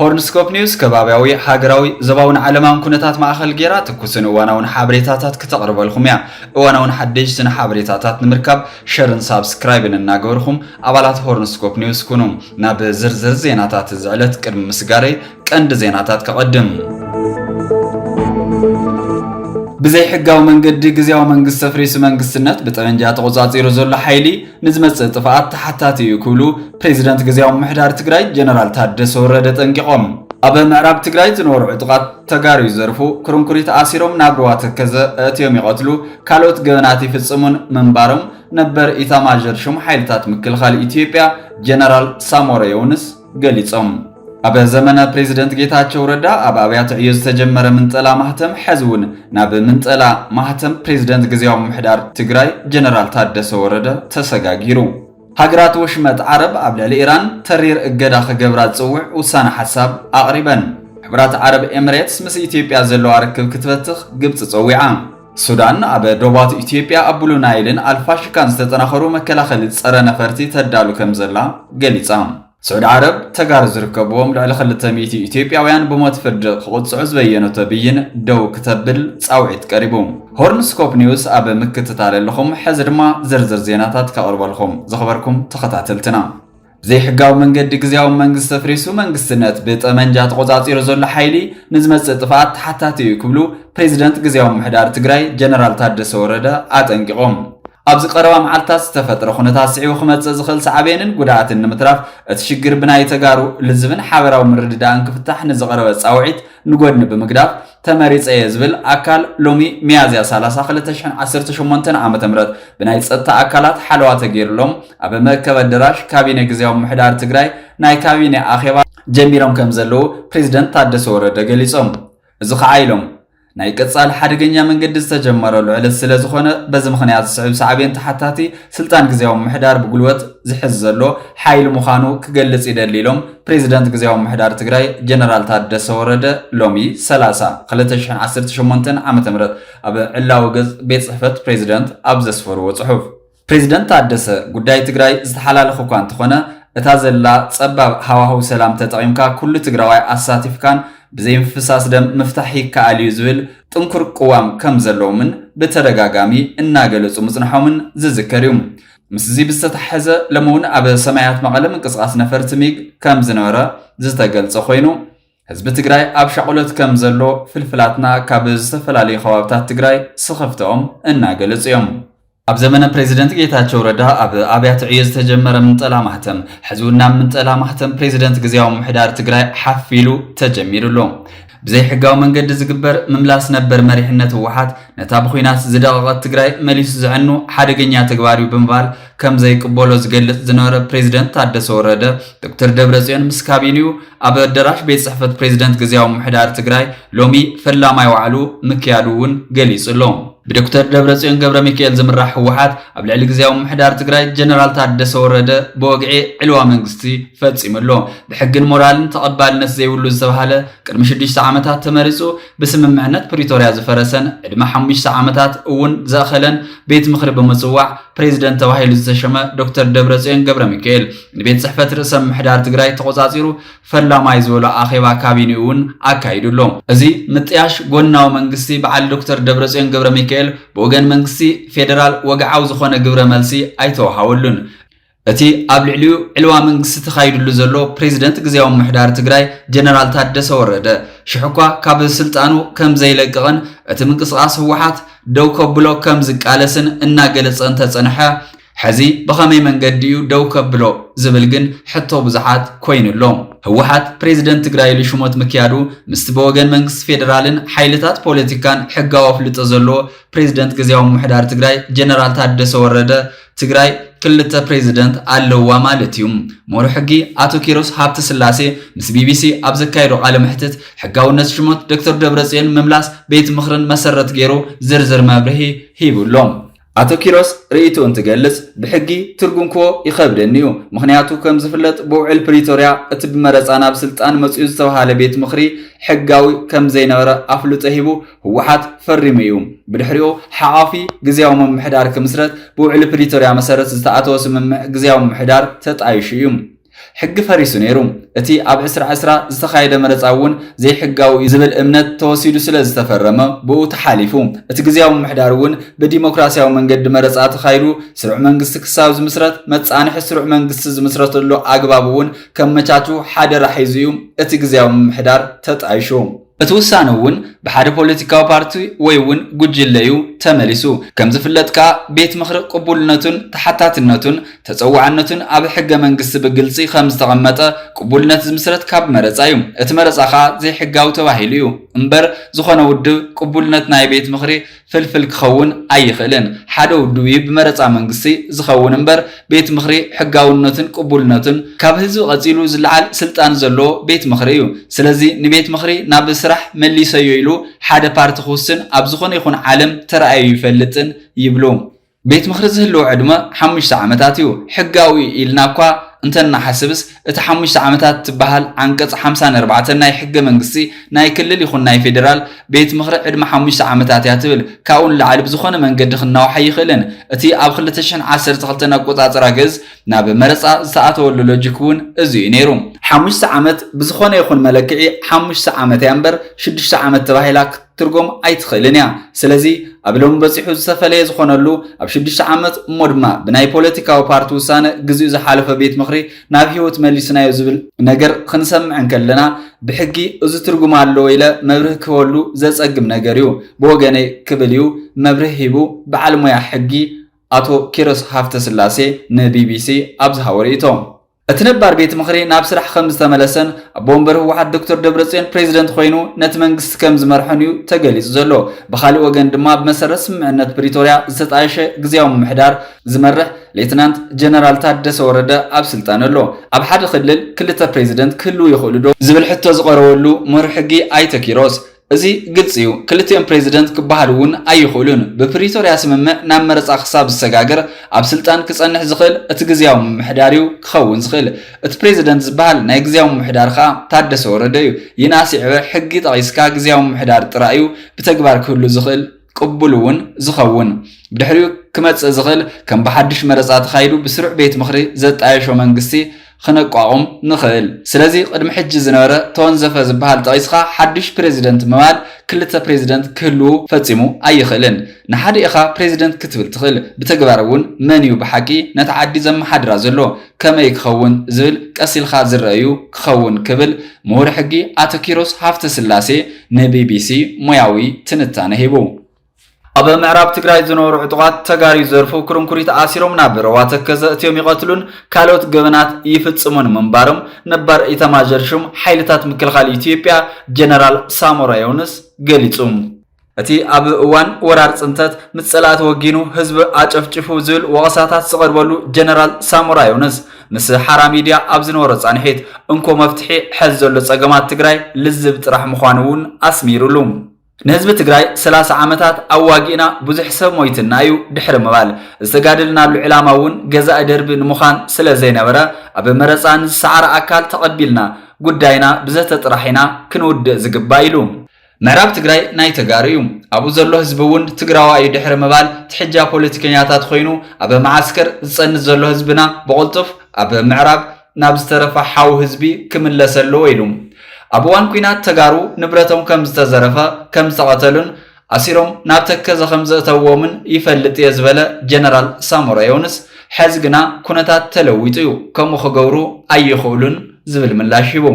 ሆርንስኮፕ ኒውስ ከባብያዊ፣ ሃገራዊ፣ ዞባውን ዓለማውን ኩነታት ማእኸል ገይራ ትኩስን እዋናውን ሓበሬታታት ክተቕርበልኹም እያ። እዋናውን ሓደሽትን ሓበሬታታት ንምርካብ ሸርን ሳብስክራይብን እናገበርኹም ኣባላት ሆርንስኮፕ ኒውስ ኩኑ። ናብ ዝርዝር ዜናታት እዚ ዕለት ቅድሚ ምስጋረይ ቀንዲ ዜናታት ከቐድም። ብዘይሕጋዊ መንገዲ ግዝያዊ መንግስቲ ኣፍሪሱ መንግስትነት ብጠበንጃ ተቖፃፂሩ ዘሎ ሓይሊ፣ ንዝመፅእ ጥፍኣት ተሓታቲ እዩ ክብሉ ፕሬዚደንት ግዝያዊ ምምሕዳር ትግራይ ጀነራል ታደሰ ወረደ ኣጠንቂቖም። ኣብ ምዕራብ ትግራይ ዝነበሩ ዕጡቓት ተጋሩ ይዘርፉ፣ ኩርንኩሪት ኣሲሮም ናብ ሩባ ተከዘ ኣእትዮም ይቐትሉ፣ ካልኦት ገበናት ይፍፅሙን ምንባሮም ነበር ኢታማዦር ሹም ሓይልታት ምክልኻል ኢትዮጵያ ጀነራል ሳሞረ የውንስ ገሊጾም። ኣብ ዘመነ ፕሬዚደንት ጌታቸው ረዳ ኣብ ኣብያተ ዕዮ ዝተጀመረ ምንጠላ ማህተም ሐዚ እውን ናብ ምንጠላ ማህተም ፕሬዚደንት ግዜያዊ ምምሕዳር ትግራይ ጀነራል ታደሰ ወረደ ተሰጋጊሩ። ሃገራት ወሽመጥ ዓረብ ኣብ ልዕሊ ኢራን ተሪር እገዳ ክገብራ ዝፅውዕ ውሳነ ሓሳብ ኣቕሪበን። ሕቡራት ዓረብ ኤምሬትስ ምስ ኢትዮጵያ ዘለዋ ርክብ ክትበትኽ ግብፂ ፀዊዓ። ሱዳን ኣብ ዶባት ኢትዮጵያ ኣብ ብሉ ናይልን ኣልፋሽካን ዝተጠናኸሩ መከላኸሊ ፀረ ነፈርቲ ተዳሉ ከምዘላ ገሊፃ። ስዑዲ ዓረብ፣ ተጋሩ ዝርከብዎም ልዕሊ ክልተ ሚእቲ ኢትዮጵያውያን ብሞት ፍርዲ ክቕፅዑ ዝበየነቶ ብይን ደው ክተብል ፃውዒት ቀሪቡ። ሆርን ስኮፕ ኒውስ ኣብ ምክትታል ኣለኹም፣ ሕዚ ድማ ዝርዝር ዜናታት ከቕርበልኹም። ዝኸበርኩም ተኸታተልትና። ብዘይሕጋዊ መንገዲ ግዜያዊ መንግስቲ ተፍሪሱ መንግስትነት ብጠመንጃ ተቖፃፂሩ ዘሎ ሓይሊ ንዝመፅእ ጥፍኣት ተሓታቲ እዩ ክብሉ ፕሬዚደንት ግዜያዊ ምምሕዳር ትግራይ ጀነራል ታደሰ ወረደ ኣጠንቂቖም። ኣብዚ ቀረባ መዓልትታት ዝተፈጥረ ኩነታት ስዒቡ ክመፅእ ዝኽእል ሳዕቤንን ጉድኣትን ንምትራፍ እቲ ሽግር ብናይ ተጋሩ ልዝብን ሓበራዊ ምርድዳእን ክፍታሕ ንዝቐረበ ፃውዒት ንጎድኒ ብምግዳፍ ተመሪፀ እየ ዝብል ኣካል ሎሚ ሚያዝያ ሰላሳ ክልተ ሽሕን ዓሰርተ ሸሞንተን ዓመተ ምህረት ብናይ ፀጥታ ኣካላት ሓለዋ ተገይርሎም ኣብ መእከቢ ኣደራሽ ካቢነ ግዝያዊ ምምሕዳር ትግራይ ናይ ካቢነ ኣኼባ ጀሚሮም ከምዘለዉ ፕሬዚደንት ታደሰ ወረደ ገሊፆም። እዚ ከዓ ኢሎም ናይ ቀፃሊ ሓደገኛ መንገዲ ዝተጀመረሉ ዕለት ስለዝኾነ በዚ ምኽንያት ዝስዕብ ሳዕቤን ተሓታቲ ስልጣን ግዝያዊ ምምሕዳር ብጉልበት ዝሕዝ ዘሎ ሓይሊ ምዃኑ ክገልፅ ይደሊ ኢሎም ፕሬዚደንት ግዝያዊ ምምሕዳር ትግራይ ጀነራል ታደሰ ወረደ ሎሚ ሰላሳ ክልተ ሽሕን ዓሰርተ ሸሞንተን ዓመተ ምህረት ኣብ ዕላዊ ገፅ ቤት ፅሕፈት ፕሬዚደንት ኣብ ዘስፈርዎ ፅሑፍ። ፕሬዚደንት ታደሰ፣ ጉዳይ ትግራይ ዝተሓላለኸ እኳ እንተኾነ እታ ዘላ ፀባብ ሃዋህው ሰላም ተጠቒምካ ኩሉ ትግራዋይ ኣሳቲፍካን ብዘይምፍሳስ ደም ምፍታሕ ይከኣል እዩ ዝብል ጥንኩር ቅዋም ከምዘለዎምን ብተደጋጋሚ እናገለፁ ምፅንሖምን ዝዝከር እዩ። ምስዚ ብዝተተሓሐዘ ሎሚ እውን ኣብ ሰማያት መቐለ ምንቅስቓስ ነፈርቲ ሚግ ከምዝነበረ ዝተገልፀ ኮይኑ፣ ህዝቢ ትግራይ ኣብ ሻቕሎት ከም ዘሎ ፍልፍላትና ካብ ዝተፈላለዩ ከባብታት ትግራይ ስኽፍተኦም እናገለፁ እዮም። ኣብ ዘመነ ፕሬዚደንት ጌታቸው ረዳ ኣብ ኣብያተ ዕዮ ዝተጀመረ ምንጠላ ማህተም ሕዚ እውን ናብ ምንጠላ ማህተም ፕሬዚደንት ግዜያዊ ምምሕዳር ትግራይ ሓፍ ኢሉ ተጀሚሩ ኣሎ። ብዘይሕጋዊ መንገዲ ዝግበር ምምላስ ነበር መሪሕነት ህወሓት ነታ ብኹናት ዝደቐቐት ትግራይ መሊሱ ዘዕኑ ሓደገኛ ተግባር እዩ ብምባል ከም ዘይቅበሎ ዝገልፅ ዝነበረ ፕሬዚደንት ታደሰ ወረደ ዶክተር ደብረፅዮን ምስ ካቢኒኡ ኣብ ኣደራሽ ቤት ጽሕፈት ፕሬዚደንት ግዝያዊ ምምሕዳር ትግራይ ሎሚ ፈላማይ ዋዕሉ ምክያዱ እውን ገሊጹ ኣሎ። ብዶክተር ደብረጽዮን ገብረሚካኤል ዝምራሕ ህወሓት ኣብ ልዕሊ ግዝያዊ ምምሕዳር ትግራይ ጀነራል ታደሰ ወረደ ብወግዒ ዕልዋ መንግስቲ ፈጺሙ ኣሎ። ብሕግን ሞራልን ተቐባልነት ዘይብሉ ዝተብሃለ ቅድሚ ሽዱሽተ ዓመታት ተመሪጹ ብስምምዕነት ፕሪቶርያ ዝፈረሰን ዕድመ ሓሙሽተ ዓመታት እውን ዘእኸለን ቤት ምኽሪ ብምፅዋዕ ፕሬዚደንት ተባሂሉ ዝተሸመ ዶክተር ደብረፅዮን ገብረሚካኤል ንቤት ፅሕፈት ርእሰ ምምሕዳር ትግራይ ተቖፃፂሩ ፈላማይ ዝበሎ ኣኼባ ካቢኔኡ እውን ኣካይዱ ኣሎ። እዚ ምጥያሽ ጎናዊ መንግስቲ በዓል ዶክተር ደብረፅዮን ገብረሚካኤል ብወገን መንግስቲ ፌዴራል ወግዓዊ ዝኾነ ግብረ መልሲ ኣይተውሃበሉን። እቲ ኣብ ልዕሊኡ ዕልዋ መንግስቲ ተኻይድሉ ዘሎ ፕሬዚደንት ግዝያዊ ምምሕዳር ትግራይ ጀነራል ታደሰ ወረደ ሽሕ እኳ ካብ ስልጣኑ ከም ዘይለቅቕን እቲ ምንቅስቓስ ህወሓት ደው ከብሎ ከም ዝቃለስን እናገለፀ እንተፀንሐ ሕዚ ብኸመይ መንገዲ እዩ ደው ከብሎ ዝብል ግን ሕቶ ብዙሓት ኮይኑ ኣሎ። ህወሓት ፕሬዚደንት ትግራይ ኢሉ ሽሞት ምክያዱ ምስቲ ብወገን መንግስቲ ፌደራልን ሓይልታት ፖለቲካን ሕጋዊ ኣፍልጦ ዘለዎ ፕሬዚደንት ግዝያዊ ምምሕዳር ትግራይ ጀነራል ታደሰ ወረደ ትግራይ ክልተ ፕሬዚደንት ኣለዋ ማለት እዩ። ምሁር ሕጊ ኣቶ ኪሮስ ሃብተ ስላሴ ምስ ቢቢሲ ኣብ ዘካየዶ ቃለ መሕትት ሕጋውነት ሽሞት ዶክተር ደብረጽዮን ምምላስ ቤት ምኽርን መሰረት ገይሩ ዝርዝር መብርሂ ሂቡ ኣሎ። ኣቶ ኪሮስ ርእይትኡ እንትገልጽ ብሕጊ ትርጉም ክቦ ይኸብደኒ እዩ። ምኽንያቱ ከም ዝፍለጥ ብውዕል ፕሪቶርያ እቲ ብመረፃ ናብ ስልጣን መፂኡ ዝተብሃለ ቤት ምኽሪ ሕጋዊ ከም ዘይነበረ ኣፍልጦ ሂቡ ህወሓት ፈሪሙ እዩ። ብድሕሪኡ ሓቛፊ ግዝያዊ ምምሕዳር ክምስረት ብውዕሊ ፕሪቶርያ መሰረት ዝተኣተወ ስምምዕ ግዝያዊ ምምሕዳር ተጣይሹ እዩ። ሕጊ ፈሪሱ ነይሩ። እቲ ኣብ ዕስራ ዕስራ ዝተኻየደ መረፃ እውን ዘይሕጋዊ እዩ ዝብል እምነት ተወሲዱ ስለ ዝተፈረመ ብኡ ተሓሊፉ። እቲ ግዝያዊ ምምሕዳር እውን ብዲሞክራስያዊ መንገዲ መረፃ ተኻይዱ ስሩዕ መንግስቲ ክሳብ ዝምስረት መፃንሒ ስሩዕ መንግስቲ ዝምስረተሉ ኣግባብ እውን ከመቻቹ ሓደራ ሒዙ እዩ እቲ ግዝያዊ ምምሕዳር ተጣይሹ። እቲ ውሳነ እውን ብሓደ ፖለቲካዊ ፓርቲ ወይ እውን ጉጅለ እዩ ተመሊሱ። ከም ዝፍለጥ ከኣ ቤት ምኽሪ ቅቡልነቱን ተሓታትነቱን ተፀዋዕነቱን ኣብ ሕገ መንግስቲ ብግልፂ ከም ዝተቐመጠ ቅቡልነት ዝምስረት ካብ መረፃ እዩ። እቲ መረፃ ከኣ ዘይሕጋዊ ተባሂሉ እዩ እምበር ዝኾነ ውድብ ቅቡልነት ናይ ቤት ምኽሪ ፍልፍል ክኸውን ኣይኽእልን። ሓደ ውድብ'ዩ ብመረጻ መንግስቲ ዝኸውን እምበር፣ ቤት ምኽሪ ሕጋውነቱን ቅቡልነቱን ካብ ህዝቢ ቀጺሉ ዝለዓል ስልጣን ዘለዎ ቤት ምኽሪ እዩ። ስለዚ ንቤት ምኽሪ ናብ ስራሕ መሊሰዮ ኢሉ ሓደ ፓርቲ ክውስን ኣብ ዝኾነ ይኹን ዓለም ተራእዩ ኣይፈልጥን ይብሉ። ቤት ምኽሪ ዝህልዎ ዕድመ ሓሙሽተ ዓመታት እዩ። ሕጋዊ እዩ ኢልና እኳ እንተ እንሓስብስ፣ እቲ ሓሙሽተ ዓመታት እትበሃል ዓንቀጽ ሓምሳን ኣርባዕተን ናይ ሕገ መንግስቲ ናይ ክልል ይኹን ናይ ፌደራል ቤት ምኽሪ ዕድመ ሓሙሽተ ዓመታት እያ ትብል። ካብኡ ንላዕሊ ብዝኾነ መንገዲ ክናዋሕ ኣይኽእልን። እቲ ኣብ ክልተ ሽሕን ዓሰርተ ክልተን ኣቆጻጽራ ግእዝ ናብ መረጻ ዝተኣተወሉ ሎጂክ እውን እዚ እዩ ነይሩ። ሓሙሽተ ዓመት ብዝኾነ ይኹን መለክዒ ሓሙሽተ ዓመት እያ እምበር ሽዱሽተ ዓመት ተባሂላ ክትትርጎም ኣይትኽእልን እያ። ስለዚ ኣብ ሎሚ በጺሑ ዝተፈለየ ዝኾነሉ ኣብ ሽዱሽተ ዓመት እሞ ድማ ብናይ ፖለቲካዊ ፓርቲ ውሳነ ግዚኡ ዝሓለፈ ቤት ምኽሪ ናብ ህይወት መሊስናዮ ዝብል ነገር ኽንሰምዕ እንከለና ብሕጊ እዚ ትርጉም ኣለዎ ኢለ መብርሂ ክህበሉ ዘጸግም ነገር እዩ ብወገነይ ክብል እዩ መብርሂ ሂቡ በዓል ሞያ ሕጊ ኣቶ ኪሮስ ሃፍተስላሴ ንቢቢሲ ኣብ ዝሃቦ ርእይቶ። እቲ ነባር ቤት ምኽሪ ናብ ስራሕ ከም ዝተመለሰን ኣቦ ወንበር ህወሓት ዶክተር ደብረፅዮን ፕሬዚደንት ኮይኑ ነቲ መንግስቲ ከም ዝመርሕን እዩ ተገሊፁ ዘሎ። ብኻሊእ ወገን ድማ ብመሰረት ስምምዕነት ፕሪቶርያ ዝተጣየሸ ግዝያዊ ምምሕዳር ዝመርሕ ሌትናንት ጀነራል ታደሰ ወረደ ኣብ ስልጣን ኣሎ። ኣብ ሓደ ክልል ክልተ ፕሬዚደንት ክህልው ይኽእሉ ዶ? ዝብል ሕቶ ዝቐረበሉ ምሁር ሕጊ ኣይተ ኪሮስ፣ እዚ ግልፂ እዩ። ክልቲኦም ፕሬዚደንት ክበሃሉ እውን ኣይኽእሉን። ብፕሪቶሪያ ስምምዕ ናብ መረፃ ክሳብ ዝሰጋገር ኣብ ስልጣን ክፀንሕ ዝኽእል እቲ ግዝያዊ ምምሕዳር እዩ ክኸውን ዝኽእል። እቲ ፕሬዚደንት ዝበሃል ናይ ግዝያዊ ምምሕዳር ከዓ ታደሰ ወረደ እዩ። ይንኣስ ይዕበ ሕጊ ጠቒስካ ግዝያዊ ምምሕዳር ጥራይ እዩ ብተግባር ክህሉ ዝኽእል። ቅቡል እውን ዝኸውን ብድሕሪኡ ክመፅእ ዝኽእል ከም ብሓድሽ መረፃ ተኻይዱ ብስሩዕ ቤት ምኽሪ ዘጣየሾ መንግስቲ ኽነቋቑም ንኽእል። ስለዚ ቕድሚ ሕጂ ዝነበረ ተወንዘፈ ዝበሃል ጠቒስኻ ሓዱሽ ፕረዚደንት ምባል ክልተ ፕረዚደንት ክህልዉ ፈፂሙ ኣይኽእልን። ንሓደ ኢኻ ፕረዚደንት ክትብል ትኽእል። ብተግባር እውን መን እዩ ብሓቂ ነታ ዓዲ ዘመሓድራ ዘሎ? ከመይ ክኸውን ዝብል ቀስ ኢልካ ዝረኣ'ዩ ክኸውን ክብል ምሁር ሕጊ ኣቶ ኪሮስ ሃፍተስላሴ ንቢቢሲ ሞያዊ ትንታነ ሂቡ። ኣብ ምዕራብ ትግራይ ዝነበሩ ዕጡቓት ተጋሩ ይዘርፉ፣ ኩርንኩሪት ኣሲሮም ናብ ሩባ ተከዘ እትዮም ይቐትሉን ካልኦት ገበናት ይፍጽሙን ምንባሮም ነባር ኢታማዦር ሹም ሓይልታት ምክልኻል ኢትዮጵያ ጀነራል ሳሞራ የውንስ ገሊጹ። እቲ ኣብ እዋን ወራር ፅንተት ምስ ፀላእቲ ወጊኑ ህዝቢ ኣጨፍጭፉ ዝብል ወቐሳታት ዝቐርበሉ ጀነራል ሳሞራ ዮኑስ ምስ ሓራ ሚድያ ኣብ ዝነበሮ ፃንሒት እንኮ መፍትሒ ሐዚ ዘሎ ፀገማት ትግራይ ልዝብ ጥራሕ ምዃኑ እውን ኣስሚሩሉ። ንህዝቢ ትግራይ ሰላሳ ዓመታት ኣዋጊእና ብዙሕ ሰብ ሞይትና እዩ ድሕሪ ምባል፣ ዝተጋደልናሉ ዕላማ እውን ገዛኢ ደርቢ ንምዃን ስለዘይነበረ ኣብ መረፃ ንዝሰዓረ ኣካል ተቐቢልና ጉዳይና ብዘተ ጥራሕ ኢና ክንውድእ ዝግባእ ኢሉ። ምዕራብ ትግራይ ናይ ተጋሩ እዩ ኣብኡ ዘሎ ህዝቢ እውን ትግራዋ እዩ ድሕሪ ምባል ትሕጃ ፖለቲከኛታት ኮይኑ ኣብ መዓስከር ዝፀንት ዘሎ ህዝብና ብቕልጡፍ ኣብ ምዕራብ ናብ ዝተረፈ ሓው ህዝቢ ክምለስ ኣለዎ ኢሉ ኣብ እዋን ኩናት ተጋሩ ንብረቶም ከም ዝተዘረፈ ከም ዝተቐተሉን ኣሲሮም ናብ ተከዘ ከም ዘእተውዎምን ይፈልጥ እየ ዝበለ ጀነራል ሳሞራ ዮንስ ሐዚ ግና ኩነታት ተለዊጡ እዩ ከምኡ ክገብሩ ኣይኽእሉን ዝብል ምላሽ ሂቡ።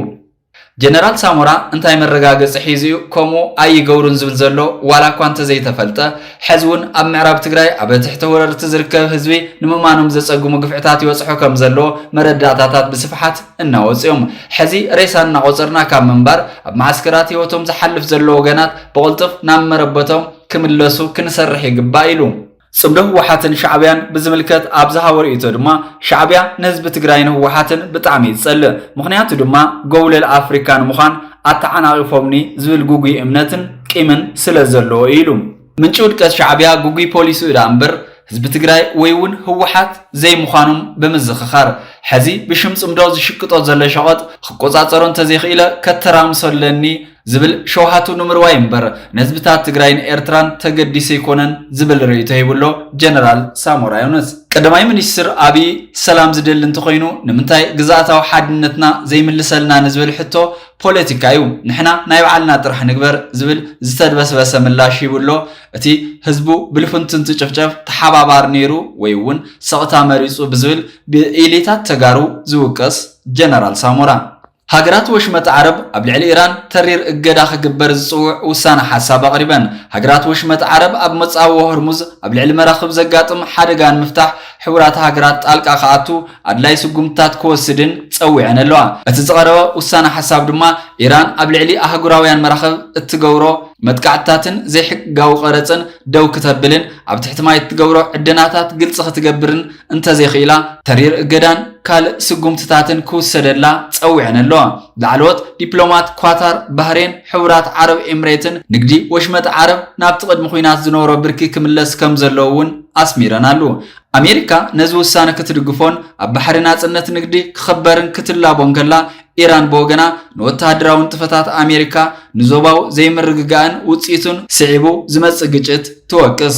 ጀነራል ሳሞራ እንታይ መረጋገፂ ሒዙ እዩ ከምኡ ኣይገብሩን ዝብል ዘሎ ዋላ እኳ እንተዘይተፈልጠ ሐዚ እውን ኣብ ምዕራብ ትግራይ ኣብ ትሕቲ ወረርቲ ዝርከብ ህዝቢ ንምእማኖም ዘፀግሙ ግፍዕታት ይበፅሖ ከምዘሎ መረዳእታታት ብስፍሓት እናወፁ እዮም ሐዚ ሬሳ እናቆፀርና ካብ ምንባር ኣብ መዓስከራት ህይወቶም ዝሓልፍ ዘሎ ወገናት ብቅልጡፍ ናብ መረበቶም ክምለሱ ክንሰርሕ ይግባእ ኢሉ። ፅምዶ ህወሓትን ሻዕቢያን ብዝምልከት ኣብ ዝሃቦ ርእይቶ ድማ ሻዕቢያ ንህዝቢ ትግራይን ህወሓትን ብጣዕሚ እዩ ዝፀልእ። ምኽንያቱ ድማ ጎብለል ኣፍሪካ ንምዃን ኣተዓናቒፎምኒ ዝብል ግጉይ እምነትን ቂምን ስለዘለዎ እዩ ኢሉ። ምንጪ ውድቀት ሻዕቢያ ግጉይ ፖሊስኡ ደኣ እምበር ህዝቢ ትግራይ ወይ እውን ህወሓት ዘይምዃኖም ብምዝኽኻር፣ ሕዚ ብሽም ፅምዶ ዝሽቅጦ ዘሎ ሸቐጥ ኽቆፃፀሮ እንተዘይኽኢለ ከተራምሶ ኣለኒ ዝብል ሸውሃቱ ንምርዋይ እምበር ንህዝብታት ትግራይን ኤርትራን ተገዲሱ ኣይኮነን ዝብል ርእይቶ ሂቡ ኣሎ ጀነራል ሳሞራ ዮኑስ። ቀዳማይ ሚኒስትር ኣብይ ሰላም ዝደሊ እንተኾይኑ ንምንታይ ግዝኣታዊ ሓድነትና ዘይምልሰልና ንዝብል ሕቶ ፖለቲካ እዩ፣ ንሕና ናይ ባዕልና ጥራሕ ንግበር ዝብል ዝተድበስበሰ ምላሽ ሂቡ ኣሎ። እቲ ህዝቡ ብልፍንቲ እንትጭፍጨፍ ተሓባባሪ ነይሩ ወይ እውን ስቕታ መሪፁ ብዝብል ብኢሊታት ተጋሩ ዝውቀስ ጀነራል ሳሞራ፣ ሃገራት ወሽመጥ ዓረብ ኣብ ልዕሊ ኢራን ተሪር እገዳ ክግበር ዝጽውዕ ውሳነ ሓሳብ ኣቕሪበን። ሃገራት ወሽመጥ ዓረብ ኣብ መጻብቦ ሆርሙዝ ኣብ ልዕሊ መራኽብ ዘጋጥም ሓደጋ ንምፍታሕ ሕቡራት ሃገራት ጣልቃ ክኣቱ ኣድላይ ስጉምትታት ክወስድን ጸዊዐን ኣለዋ። እቲ ዝቐረበ ውሳነ ሓሳብ ድማ ኢራን ኣብ ልዕሊ ኣህጉራውያን መራኽብ እትገብሮ መጥቃዕትታትን ዘይሕቅጋዊ ቀረጽን ደው ክተብልን ኣብ ትሕቲ ማይ እትገብሮ ዕደናታት ግልጺ ክትገብርን እንተዘይኽኢላ ተሪር እገዳን ካልእ ስጉምትታትን ክውሰደላ ጸዊዐን ኣለዋ። ላዕለዎት ዲፕሎማት ኳታር፣ ባህሬን፣ ሕቡራት ዓረብ ኤምሬትን ንግዲ ወሽመጥ ዓረብ ናብቲ ቅድሚ ኲናት ዝነበሮ ብርኪ ክምለስ ከምዘለዎ እውን ኣስሚረናሉ። ኣሜሪካ ነዚ ውሳነ ክትድግፎን ኣብ ባሕሪ ናጽነት ንግዲ ክኽበርን ክትላቦ እንከላ፣ ኢራን ብወገና ንወተሃደራዊ ንጥፈታት ኣሜሪካ ንዞባዊ ዘይምርግጋእን ውጽኢቱን ስዒቡ ዝመጽእ ግጭት ትወቅስ።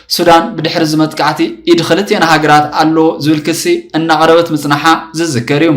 ሱዳን ብድሕሪ እዚ መጥቃዕቲ ኢድ ክልቲኤን ሃገራት ኣሎ ዝብል ክሲ እናቕረበት ምጽናሓ ዝዝከር እዩ።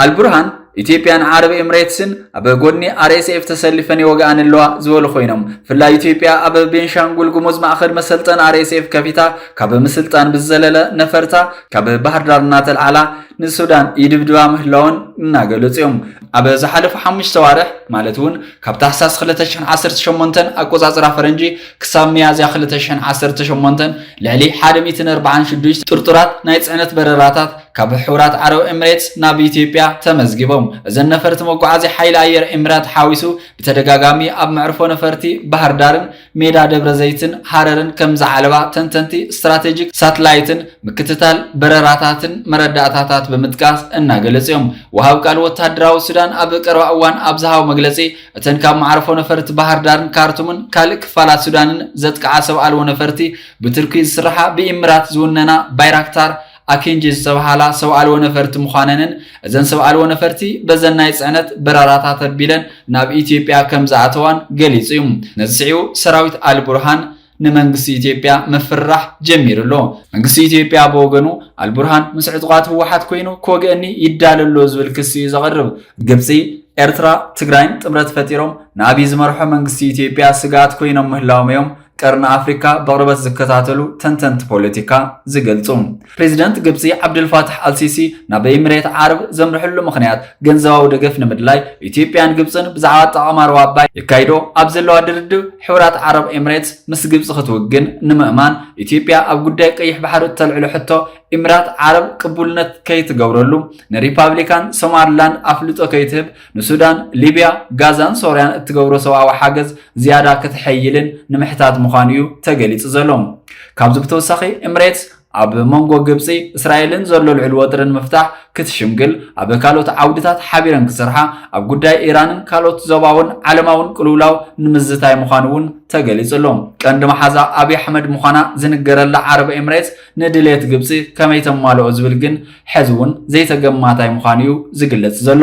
ኣልቡርሃን ኢትዮጵያን ዓረብ ኤምሬትስን ኣብ ጎድኒ ኣርኤስኤፍ ተሰሊፈን ይወግኣን ኣለዋ ዝበሉ ኮይኖም ብፍላይ ኢትዮጵያ ኣብ ቤንሻንጉል ጉሙዝ ማእኸል መሰልጠን ኣርኤስኤፍ ከፊታ ካብ ምስልጣን ብዝዘለለ ነፈርታ ካብ ባህርዳር እናተልዓላ ንሱዳን ይድብድባ ምህላውን እናገለጹ እዮም ኣብ ዝሓለፉ ሓሙሽተ ዋርሕ ማለት እውን ካብ ታሕሳስ 2018 ኣቆፃፅራ ፈረንጂ ክሳብ ሚያዝያ ክልተ ሽሕን ዓሰርተ ሸሞንተን ልዕሊ ሓደ ሚእትን ኣርብዓን ሽዱሽተ ጥርጡራት ናይ ጽዕነት በረራታት ካብ ሕቡራት ዓረብ ኤምሬትስ ናብ ኢትዮጵያ ተመዝጊቦም። እዘን ነፈርቲ መጓዓዝያ ሓይሊ ኣየር ኤምራት ሓዊሱ ብተደጋጋሚ ኣብ መዕርፎ ነፈርቲ ባህርዳርን ሜዳ ደብረዘይትን ሃረርን ከም ዝዓለባ ተንተንቲ ስትራቴጂክ ሳትላይትን ምክትታል በረራታትን መረዳእታታት ብምጥቃስ እናገለጹ እዮም። ወሃብ ቃል ወተሃደራዊ ሱዳን ኣብ ቀረባ እዋን ኣብ ዝሃቦ መግለጺ እተን ካብ መዓርፎ ነፈርቲ ባህርዳርን ካርቱምን ካልእ ክፋላት ሱዳንን ዘጥቅዓ ሰብ ኣልቦ ነፈርቲ ብቱርኪ ዝስራሓ ብኢምራት ዝውነና ባይራክታር ኣኪንጂ ዝተብሃላ ሰብ ኣልቦ ነፈርቲ ምዃነንን እዘን ሰብ ኣልቦ ነፈርቲ በዘን ናይ ፅዕነት በረራታት ኣቢለን ናብ ኢትዮጵያ ከም ዝኣተዋን ገሊፁ እዩ። ነዚ ስዒቡ ሰራዊት ኣልቡርሃን ንመንግስቲ ኢትዮጵያ ምፍርራሕ ጀሚሩ ኣሎ። መንግስቲ ኢትዮጵያ ብወገኑ ኣልቡርሃን ምስ ዕጡቓት ህወሓት ኮይኑ ክወግእኒ ይዳሎ ኣሎ ዝብል ክሲ እዩ ዘቕርብ። ግብፂ፣ ኤርትራ፣ ትግራይን ጥምረት ፈጢሮም ንኣብይ ዝመርሖ መንግስቲ ኢትዮጵያ ስግኣት ኮይኖም ምህላዎም እዮም ቀርኒ ኣፍሪካ ብቕርበት ዝከታተሉ ተንተንቲ ፖለቲካ ዝገልፁ። ፕሬዚደንት ግብፂ ዓብደልፋታሕ ኣልሲሲ ናብ ኤሚሬት ዓረብ ዘምርሕሉ ምኽንያት ገንዘባዊ ደገፍ ንምድላይ ኢትዮጵያን ግብፅን ብዛዕባ ኣጠቓቕማ ሩባ ኣባይ የካይዶ ኣብ ዘለዋ ድርድብ ሕቡራት ዓረብ ኤሚሬትስ ምስ ግብፂ ክትውግን ንምእማን ኢትዮጵያ ኣብ ጉዳይ ቀይሕ ባሕሪ እተልዕሎ ሕቶ ኢሚራት ዓረብ ቅቡልነት ከይትገብረሉ ንሪፓብሊካን ሶማሊላንድ ኣፍልጦ ከይትህብ ንሱዳን፣ ሊብያ፣ ጋዛን ሶርያን እትገብሮ ሰብኣዊ ሓገዝ ዝያዳ ከተሐይልን ንምሕታት ምዃኑ እዩ ተገሊፁ ዘሎ። ካብዚ ብተወሳኺ ኤሚሬትስ ኣብ መንጎ ግብፂ እስራኤልን ዘሎ ልዑል ወጥሪ ንምፍታሕ ክትሽምግል ኣብ ካልኦት ዓውድታት ሓቢረን ክሰርሓ ኣብ ጉዳይ ኢራንን ካልኦት ዞባውን ዓለማውን ቅልውላው ንምዝታይ ምዃኑ እውን ተገሊጹ ኣሎ። ቀንዲ መሓዛ ኣብዪ ኣሕመድ ምዃና ዝንገረላ ዓረብ ኤምሬትስ ንድሌት ግብፂ ከመይ ተማልኦ ዝብል ግን ሕዚ እውን ዘይተገማታይ ምዃኑ እዩ ዝግለጽ ዘሎ።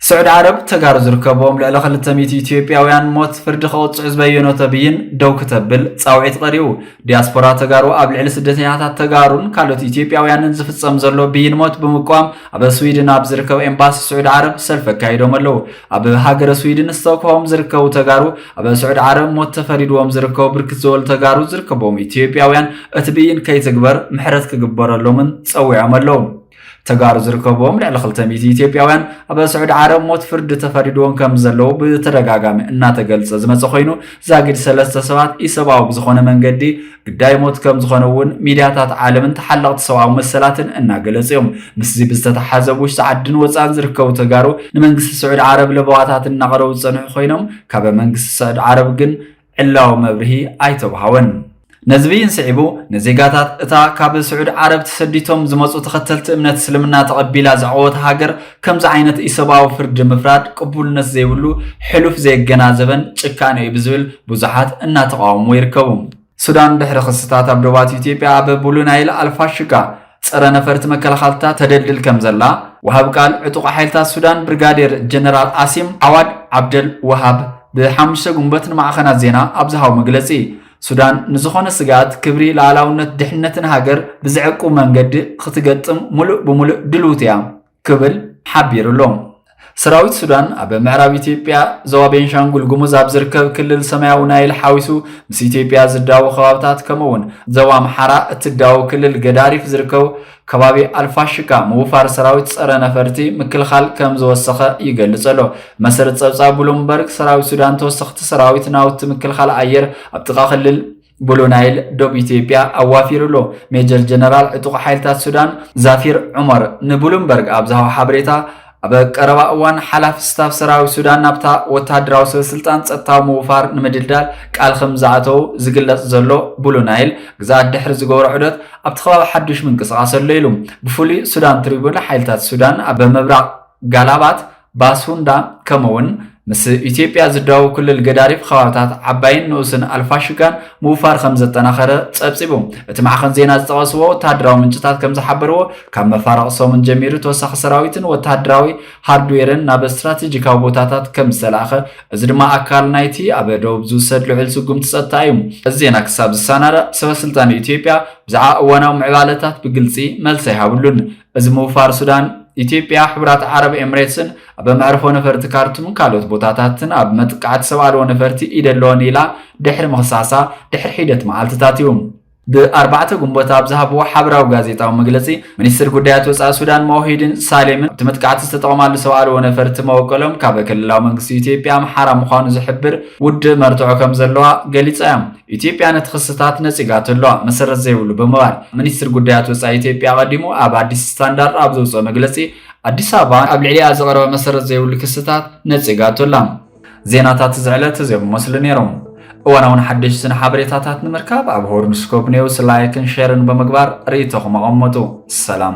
ስዑድ ዓረብ ተጋሩ ዝርከብዎም ልዕሊ ክልተ ሚእቲ ኢትዮጵያውያን ሞት ፍርዲ ከቕፅዑ ዝበየኖቶ ብይን ደው ክተብል ፃውዒት ቐሪቡ። ዲያስፖራ ተጋሩ ኣብ ልዕሊ ስደተኛታት ተጋሩን ካልኦት ኢትዮጵያውያንን ዝፍፀም ዘሎ ብይን ሞት ብምቅዋም ኣብ ስዊድን ኣብ ዝርከብ ኤምባሲ ስዑድ ዓረብ ሰልፊ ኣካይዶም ኣለው። ኣብ ሃገረ ስዊድን ስቶክሆም ዝርከቡ ተጋሩ ኣብ ስዑድ ዓረብ ሞት ተፈሪድዎም ዝርከቡ ብርክት ዝበሉ ተጋሩ ዝርከብዎም ኢትዮጵያውያን እቲ ብይን ከይትግበር ምሕረት ክግበረሎምን ፀዊዖም ኣለው። ተጋሩ ዝርከብዎም ልዕሊ ክልተ ሚእቲ ኢትዮጵያውያን ኣብ ስዑዲ ዓረብ ሞት ፍርዲ ተፈሪድዎም ከም ዘለዉ ብተደጋጋሚ እናተገልጸ ዝመጸ ኮይኑ ዛጊድ ሰለስተ ሰባት ኢሰብኣዊ ብዝኾነ መንገዲ ግዳይ ሞት ከም ዝኾነ እውን ሚድያታት ዓለምን ተሓለቕቲ ሰብኣዊ መሰላትን እናገለጹ እዮም። ምስዚ ብዝተተሓሓዘ ኣብ ውሽጢ ዓድን ወጻእን ዝርከቡ ተጋሩ ንመንግስቲ ስዑዲ ዓረብ ለበዋታት እናቕረቡ ዝጸንሑ ኮይኖም ካብ መንግስቲ ስዑዲ ዓረብ ግን ዕላዊ መብርሂ ኣይተውሃወን። ነዚ ብይን ስዒቡ ንዜጋታት እታ ካብ ስዑድ ዓረብ ተሰዲቶም ዝመጹ ተኸተልቲ እምነት እስልምና ተቐቢላ ዘዕቆወት ሃገር ከምዚ ዓይነት ኢሰብኣዊ ፍርዲ ምፍራድ ቅቡልነት ዘይብሉ ሕሉፍ ዘየገናዘበን ጭካነ'ዩ ብዝብል ብዙሓት እናተቓወምዎ ይርከቡ። ሱዳን ድሕሪ ክስታት ኣብ ዶባት ኢትዮጵያ ኣብ ቡሉ ናይል ኣልፋሽጋ፣ ፀረ ነፈርቲ መከላኸልታ ተደልድል ከምዘላ ወሃቢ ቃል ዕጡቕ ሓይልታት ሱዳን ብርጋዴር ጀነራል ኣሲም ዓዋድ ዓብደል ወሃብ ብ ሓሙሽተ ግንቦት ንማዕኸናት ዜና ኣብ ዝሃቦ መግለፂ ሱዳን ንዝኾነ ስግኣት ክብሪ ልኣላውነት ድሕነትን ሃገር ብዘዕቁብ መንገዲ ክትገጥም ሙሉእ ብሙሉእ ድልውቲ እያ ክብል ሓቢሩ'ሎ። ሰራዊት ሱዳን ኣብ ምዕራብ ኢትዮጵያ ዞባ ቤንሻንጉል ጉሙዝ ኣብ ዝርከብ ክልል ሰማያዊ ናይል ሓዊሱ ምስ ኢትዮጵያ ዝዳወብ ከባብታት ከምኡ'ውን ዞባ ኣምሓራ እትዳወብ ክልል ገዳሪፍ ዝርከቡ ከባቢ ኣልፋሽካ ምውፋር ሰራዊት ጸረ ነፈርቲ ምክልኻል ከም ዝወሰኸ ይገልጽ ኣሎ። ብመሰረት ጸብጻብ ብሉምበርግ ሰራዊት ሱዳን ተወሰኽቲ ሰራዊት ናውቲ ምክልኻል ኣየር ኣብ ጥቓ ክልል ብሉ ናይል ዶብ ኢትዮጵያ ኣዋፊሩ ኣሎ። ሜጀር ጀነራል ዕጡቕ ሓይልታት ሱዳን ዛፊር ዑመር ንብሉምበርግ ኣብ ዝሃቦ ሓበሬታ ኣብ ቀረባ እዋን ሓላፊ ስታፍ ሰራዊት ሱዳን ናብታ ወተሃደራዊ ሰበስልጣን ጸጥታዊ ምውፋር ንምድልዳል ቃል ከም ዝኣተው ዝግለጽ ዘሎ ብሉ ናይል ግዝኣት ድሕሪ ዝገብሮ ዑደት ኣብቲ ከባቢ ሓዱሽ ምንቅስቓስ ኣሎ ኢሉ። ብፍሉይ ሱዳን ትሪቡን ሓይልታት ሱዳን ኣብ ምብራቕ ጋላባት ባሱንዳ ከምኡውን ምስ ኢትዮጵያ ዝዳወብ ክልል ገዳሪፍ ኸባብታት ዓባይን ንኡስን ኣልፋሽጋን ምውፋር ከም ዘጠናኸረ ጸብጺቡ። እቲ ማዕኸን ዜና ዝጠቐስዎ ወተሃደራዊ ምንጭታት ከም ዝሓበርዎ ካብ መፋርቕ ሰሙን ጀሚሩ ተወሳኺ ሰራዊትን ወተሃደራዊ ሃርድዌርን ናብ ስትራቴጂካዊ ቦታታት ከም ዝተላእኸ፣ እዚ ድማ ኣካል ናይቲ ኣብ ደቡብ ዝውሰድ ልዑል ስጉምቲ ጸጥታ እዩ። እዚ ዜና ክሳብ ዝሰናዳእ ሰበስልጣን ኢትዮጵያ ብዛዕባ እዋናዊ ምዕባለታት ብግልጺ መልሲ ኣይሃብሉን። እዚ ምውፋር ሱዳን፣ ኢትዮጵያ፣ ሕቡራት ዓረብ ኤምሬትስን ኣብ መዕርፎ ነፈርቲ ካርቱምን ካልኦት ቦታታትን ኣብ መጥቃዕቲ ሰብ ኣልቦ ነፈርቲ ኢድ ኣለወን ኢላ ድሕሪ ምኽሳሳ ድሕሪ ሒደት መዓልትታት እዩ። ብ ኣርባዕተ ግንቦት ኣብ ዝሃብዎ ሓበራዊ ጋዜጣዊ መግለጺ፣ ሚኒስትር ጉዳያት ወጻኢ ሱዳን ሞሂዲን ሳሌምን ኣብቲ መጥቃዕቲ ዝተጠቕማሉ ሰብ ኣልቦ ነፈርቲ መበቆሎም ካብ ክልላዊ መንግስቲ ኢትዮጵያ ኣምሓራ ምዃኑ ዝሕብር ውድእ መርትዖ ከምዘለዋ ገሊጻ እያ። ኢትዮጵያ ነቲ ክስታት ነጺጋቶ ኣለዋ መሰረት ዘይብሉ ብምባል ሚኒስትሪ ጉዳያት ወጻኢ ኢትዮጵያ ቀዲሙ ኣብ ኣዲስ ስታንዳርድ ኣብ ዘውጽኦ መግለጺ ኣዲስ ኣበባ ኣብ ልዕሊኣ ዝቐረበ መሰረት ዘይብሉ ክስታት ነጺጋቶ ኣላ። ዜናታት እዚ ዕለት እዚኦም ይመስሉ ነይሮም። እዋናውን ሓደሽትን ሓበሬታታት ንምርካብ ኣብ ሆርንስኮፕ ኔውስ ላይክን ሼርን ብምግባር ርእይቶኹም ኣቐመጡ። ሰላም